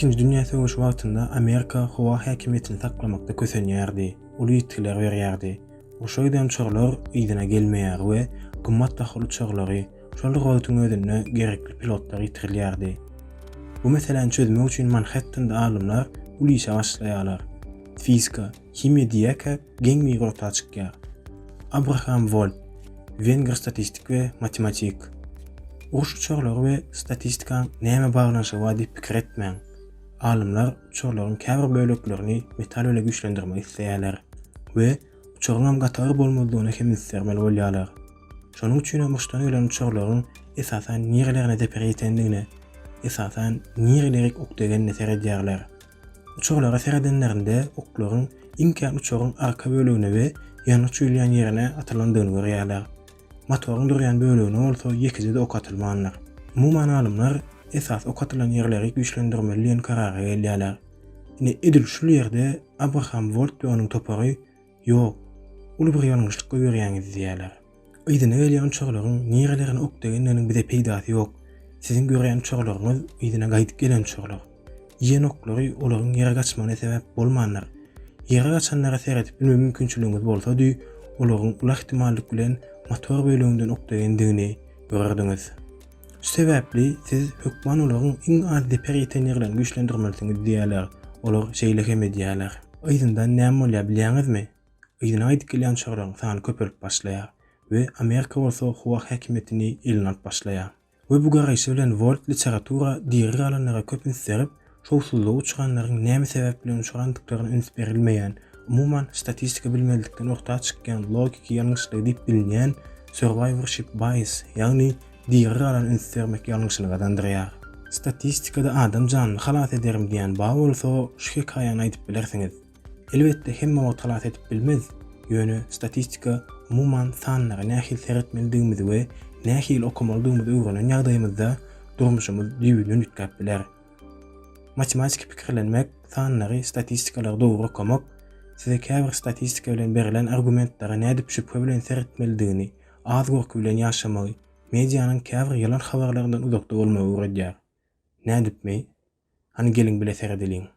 Ikinji dünýä söweşi wagtynda Amerika howa häkimiýetini saklamakda kösenýärdi, uly ýitgiler berýärdi. Urşa giden uçarlar yzyna gelmeýär we gymmat bahaly uçarlary, şol bir wagtyň özünde gerekli pilotlary ýitirilýärdi. Bu meseläni çözmek üçin Manhettende alymlar uly işe başlaýarlar. Fizika, himiýa diýýäkä geň migrota çykýar. Abraham Wolp, wengr statistik we matematik. Uruş uçarlary we statistikaň näme baglanyşygy bar diýip pikir etmäň. Alymlar uçarlaryň käbir böleklerini metal bile güýçlendirmek isleýärler we uçaryňam gaty ir bolmazdygyna hem üns bermeli bolýarlar. Şonuň üçin hem urşdan gelen uçarlaryň esasan nirelerine zeper ýetendigine, esasan nireleri ok degenine seredýärler. Uçarlara seredenlerinde oklaryň iň kän uçaryň arka bölegine we ýangyç ýuwulýan ýerine atylandygyny görýärler. Motoryň durýan bölegine bolsa ýekeje-de ok atylmandyr. Umuman alymlar esasy ok atylan ýerleri güýçlendirmeli diýen karara gelýärler. Ine edil şul ýerde Abraham Wolt we onuň topary Ýok, uly bir ýalňyşlyk goýberýäňiz diýýärler. Yzyna gelýän uçarlaryň nirelerine ok degenleriniň bize peýdasy ýok. Siziň görýän uçarlaryňyz yzyna gaýdyp gelen uçarlar. Iýen oklary olaryň ýere gaçmagyna sebäp bolmandyr. Ýere gaçanlara seredip bilme mümkinçiligiňiz bolsady, olaryň uly ähtimallyk bilen motor böleginden ok degendigini görerdiňiz. Şu sebäpli siz hökman olaryň iň az zeper ýeten ýerlerini güýçlendirmelisiňiz diýýärler. Olar şeýle hem edýärler. Yzyndan näme bolýar bilýäňizmi? Yzyna gaýdyp gelýän uçarlaryň sany köpelip başlaýar we Amerika bolsa howa häkimiýetini eline alyp başlaýar. We bu garaýşy bilen Wolt literatura diri galanlara köp üns berip, Şowsuzlygy uçranlaryň näme sebäp bilen uçrandyklaryna üns berilmeýän, umuman, statistika bilmezlikden orta çykýan logiki ýalňyşlygy diýip bilinýän survivorship bias, ýagny diri galan üns bermek ýalňyşyny gazandyrýar. Statistikada adam janyny halas ederim diýen ba bolsa, şu hekaýany aýdyp bilersiňiz. Elbetde, hemme wagt halas edip bilmez, ýöne statistika, umuman, sanlara nähili seretmelidigimizi we nähili okamalydygymyzy öwrenen ýagdaýymyzda durmuşymyz düýbünden üýtgäp biler. Matematiki pikirlenmek, sanlary, statistikalary dogry okamak size käbir statistika bilen berlen argumentlere nädip şübhe bilen seretmelidigini, az gorky bilen ýaşamagy, medianyň käbir ýalan habarlaryndan uzakda bolmagy öwredýär. Nädipmi? Hany geliň bile seredeliň.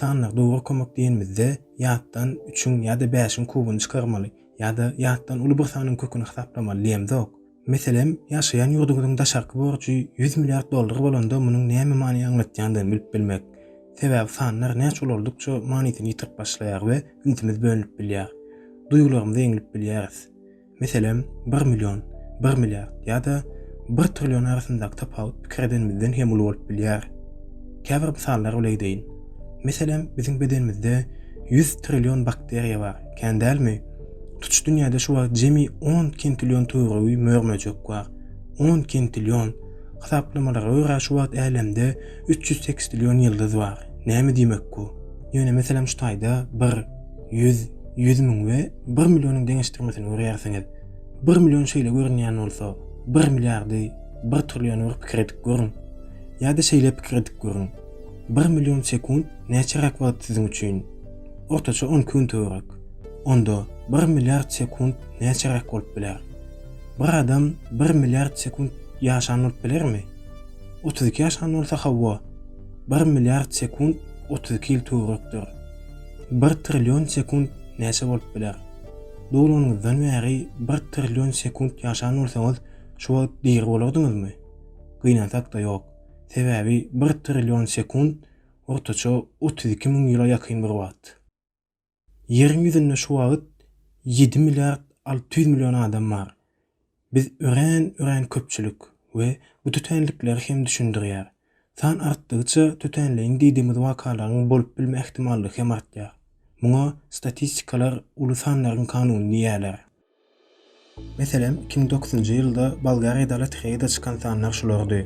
Sanly dogry kömek diýenimizde ýatdan üçiň ýa-da bäşiň kubuny çykarmaly ýa-da ýatdan uly bir sanyň köküni hasaplamaly diýemzok. Meselem, ýaşaýan ýurduňyzyň daşarky borjy ýüz milliard dollar bolanda munuň näme many aňlatýandygyny bilip bilmek. Sebäbi sanlar näçe ulaldykça manysyny ýitirip başlaýar we ünsümiz bölünip bilýär. Duýgularymyzy eňlip bilýäris. Meselem, bir million, bir milliard ýa-da bir trillion arasyndaky tapawut pikir edenimizden hem uly bolup bilýär. Käbir mysallar bile edeýin. Meselem, biziň bedenimizde ýüz trillion bakteriýa bar, kän dälmi? Tutuş dünýäde şu wagt jemi on kintillion töweregi mör-möjek bar. On kintillion! Hasaplamalara görä, şu wagt älemde üç ýüz sekstrillion ýyldyz bar. Näme diýmek bu? Ýöne meselem şu taýda bir. Ýüz, ýüz müň we bir millionyň deňeşdirmesini görýärsiňiz. Bir million şeýle görünýän bolsa, bir milliardy, bir trilliony bir pikir edip görüň. Ýa-da şeýle pikir edip görüň. Bir million sekunt näçeräk wagt siziň üçin? Ortaça on iki gün töwerek. Onda bir milliard sekunt näçeräk bolup biler? Bir adam bir milliard sekunt ýaşan bolup bilermi? Otuz iki ýaşan bolsa hawa, bir milliard sekunt otuz iki ýyl töwerekdir. Bir trillion sekunt näçe bolup biler? Dogulanyňyzdan bäri bir trillion sekunt ýaşan bolsaňyz, şu wagt diri bolardyňyzmy? Gynansak-da ýok. Sebäbi bir trillion sekunt, ortaça otuz iki müň ýyla ýakyn bir wagt. Ýeriň ýüzünde şu wagt ýedi milliard alty ýüz million adam bar. Biz örän, örän köpçülik we bu tötänlikleri hem düşündirýär. San artdygyça tötänleýin diýdigimiz wakalaryň bolup bilme ähtimallygy hem artýar. Muňa statistikalar uly sanlaryň kanuny diýýärler. Meselem, iki müň dokuzynjy ýylda Bolgariýada lotereýada çykan sanlar şulardy,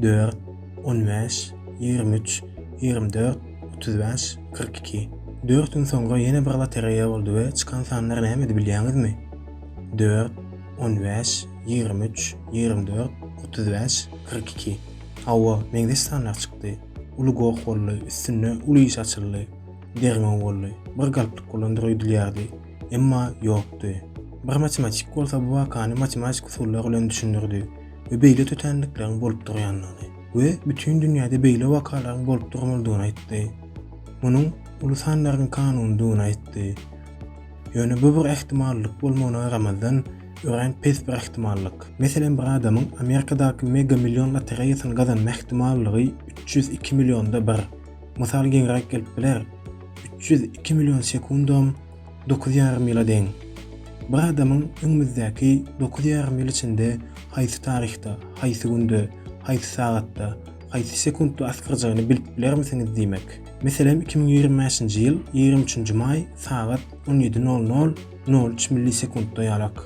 dört, on bäş, ýigrimi üç, ýigrimi dört, otuz bäş, kyrk iki. Dört gün soňra ýene bir lotereýa boldy we çykan sanlar nämedi bilýäňizmi? dört, on bäş, ýigrimi üç, ýigrimi dört, otuz bäş, kyrk iki. Hawa, meňzeş sanlar çykdy. Uly goh boldy, üstünde uly iş açyldy. Derňew boldy. Bir galplyk bolandyr öýdülýärdi. Emma ýokdy. Bir matematik bolsa bu wakany matematik usullar bilen düşündirdi we beýle tötänlikleriň bolup durýandygyny we bütin dünýäde beýle wakalaryň bolup durmalydygyny aýtdy. Munuň uly sanlaryň kanunydygyny aýtdy. Ýöne bu bir ähtimallyk bolmagyna garamazdan, örän pes bir ähtimallyk. Meselem, bir adamyň Amerikadaky Mega Million lotereýasyny gazanma ähtimallygy üç ýüz iki millionda bir. Mysal giňräk gelip biler, üç ýüz iki million sekundam dokuz ýarym ýyla deň. Bir adamyň öňümizdäki dokuz ýarym ýyl içinde haýsy taryhda, haýsy günde, haýsy sagatda, haýsy sekundda asgyrjagyny bilip bilermisiňiz diýmek. Meselem, iki müň ýigrimi bäşinji ýyl ýigrimi üçünji maý sagat on ýedi nol nol, nol üç millisekundda ýalak.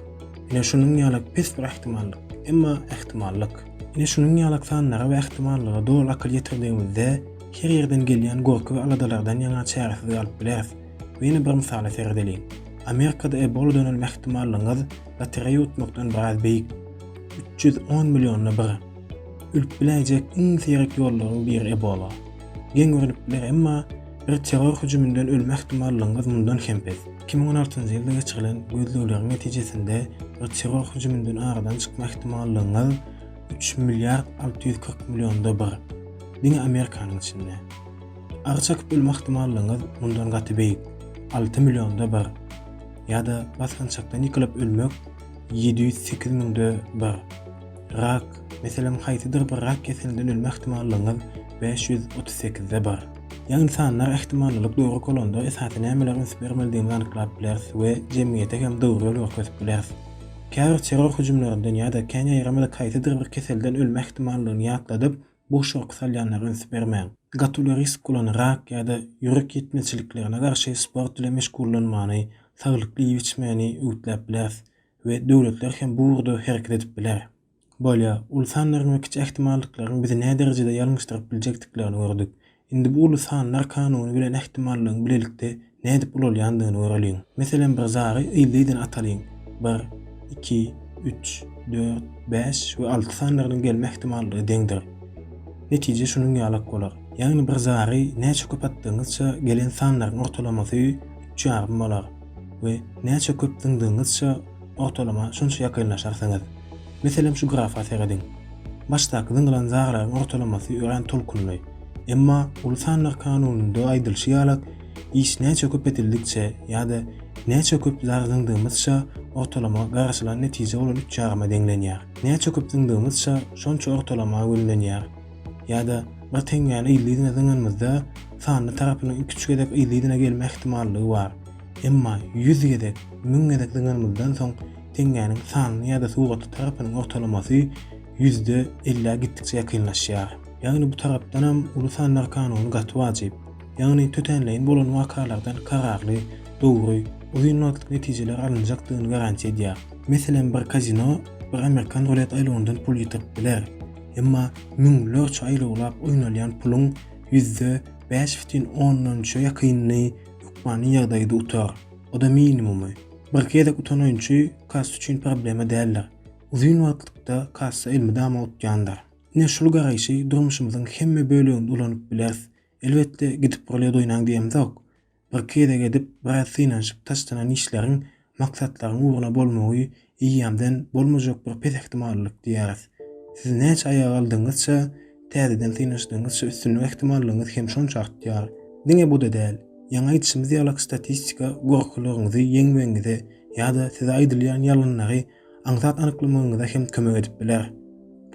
Ine, şunuň ýalak pes bir ähtimallyk, emma ähtimallyk. Ine, şunuň ýalak sanlara we ähtimallyga doly akyl ýetirdigimizde, her ýerden gelýän gorky we aladalardan ýaňa çäresiz galyp bileris. We ýene bir mysala seredeliň. Amerikada Ebola dönelme ähtimallygyňyz lotereýa utmakdan biraz beýik. Üç ýüz on millionda bir. Ölüp biläýjek iň seýrek ýollaryň biri Ebola. Geň görnüpdiler, emma bir terror hüjüminden ölme ähtimallygyňyz mundan hem pes. Iki müň on altynjy ýylda geçirilen gözlegleriň netijesinde bir terror hüjüminden aradan çykma ähtimallygyňyz üç milliard alty ýüz kyrk millionda bir. Diňe Amerikanyň içinde. Ary çekyp ölme ähtimallygyňyz mundan gaty beýik, alty millionda bir. Ýa-da basgançakdan ýykylyp ölmek ýedi ýüz sekiz müňde bir. Rak, Meselem, haýsydyr bir rak keselinde ölme ähtimallygyňyz bäş ýüz otuz sekizde bir. Ýagny sanlar ähtimallylyk dogry kolonda esasy nämeler üns bermelidigimizi anyklap bileris we jemgyýete hem dogry ýol görkezip bileris. Käbir terror hüjümlerinden ýa-da kän ýaýramada kaýsydyr bir keselden ölme ähtimallygyny ýatladyp, boş gorky salýanlara üns bermäň. Gaty uly risk bolan rak ýa-da ýürek ýetmezçiliklerine garşy sport ile meşgullanmany, saglyklly iýip-içmäni öwütläp bileris we döwletler hem bu ugurda hereket edip biler. Bolýar, uly sanlaryň we kiçi ähtimallyklaryň bizi näderejede ýalňyşdyryp biljekdiklerini gördük. Indi bu uly sanlar kanuny bilen ähtimallygyň bilelikde nädip ulalýandygyny göreliň. Meselem bir zary yzly-yzyna atalyň. Bir, iki, üç, dört, bäş we alty sanlarynyň gelme ähtimallygy deňdir. Netije şunuň ýalak bolar. Ýagny bir zary näçe köp atdygyňyzça gelen sanlaryň ortalamasy üç ýarym bolar. we näçe köp zyňdygyňyzça ortalama şonça ýakynlaşarsyňyz. Meselem şu grafa serediň. Başdaky zyňylan zarlaryň ortalamasy örän tolkunly. Emma uly sanlar kanunynda aýdylyşy ýalak iş näçe köpedildikçe ýa-da näçe köp zar zyňdygymyzça ortalama garaşylan netije bolan üç ýaryma deňlenýär. Näçe köp zyňdygyňyzça şonça ortalama gönlenýär. ýa-da bir teňňäni yzly yzyna zyňanymyzda sanly tarapynyň iki üç gezek yzly yzyna gelme ähtimallygy bar. Emma ýüz gezek, müň gezek zyňanymyzdan soň teňňäniň sanly ýa-da suratly tarapynyň ortalamasy ýüzde ellä gitdikçe ýakynlaşýar. Ýagny bu tarapdanam uly sanlar kanuny gaty wajyp. Ýagny tötänleýin bolan wakalardan kararly, dogry, uzyn wagtlyk netijeler alynjakdygyny garantiýa edýär. Meselem bir kazino bir amerikan rulet aýlawyndan pul ýitirip biler. Emma müňlerçe aýlawlap oýnalýan puluň ýüzde bäş bütin ondan üçe ýakynyny hökmany ýagdaýda utar. O-da minimumy. Bir gezek utan oýunçy kassa üçin problema däldir. Uzyn wagtlykda kassa elmydama utýandyr. Ine şul garaýşy durmuşymyzyň hemme böleginde ulanyp bileris. Elbetde, gidip-gel ýadoýnaň diýemzok. Bir gezek edip biraz synanyşyp taşlanan işleriň maksatlaryň ugruna bolmagy eýýämden bolmajak bir pes ähtimallyk diýýäris. Siz näçe aýaga aldygyňyzça, täzeden synanyşdygyňyzça üstünlik ähtimallygyňyz hem şonça artýar. Diňe bu-da däl, ýaňy aýdyşymyz ýalyk statistika gorkylygyňyzy ýeňmegiňize ýa-da size aýdylýan ýalanlary aňsat anyklamagyňyza hem kömek edip biler.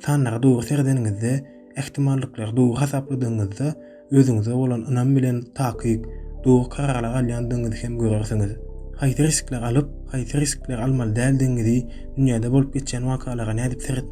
Sanlara dogry seredeniňizde, ähtimallyklary dogry hasapladygyňyzda, özüňize bolan ynam bilen takyk, dogry kararlary alýandygyňyzy hem görersiňiz. Haýsy riskleri alyp, haýsy riskleri almaly däldigiňizi, dünýäde bolup geçýän wakalara nädip seret,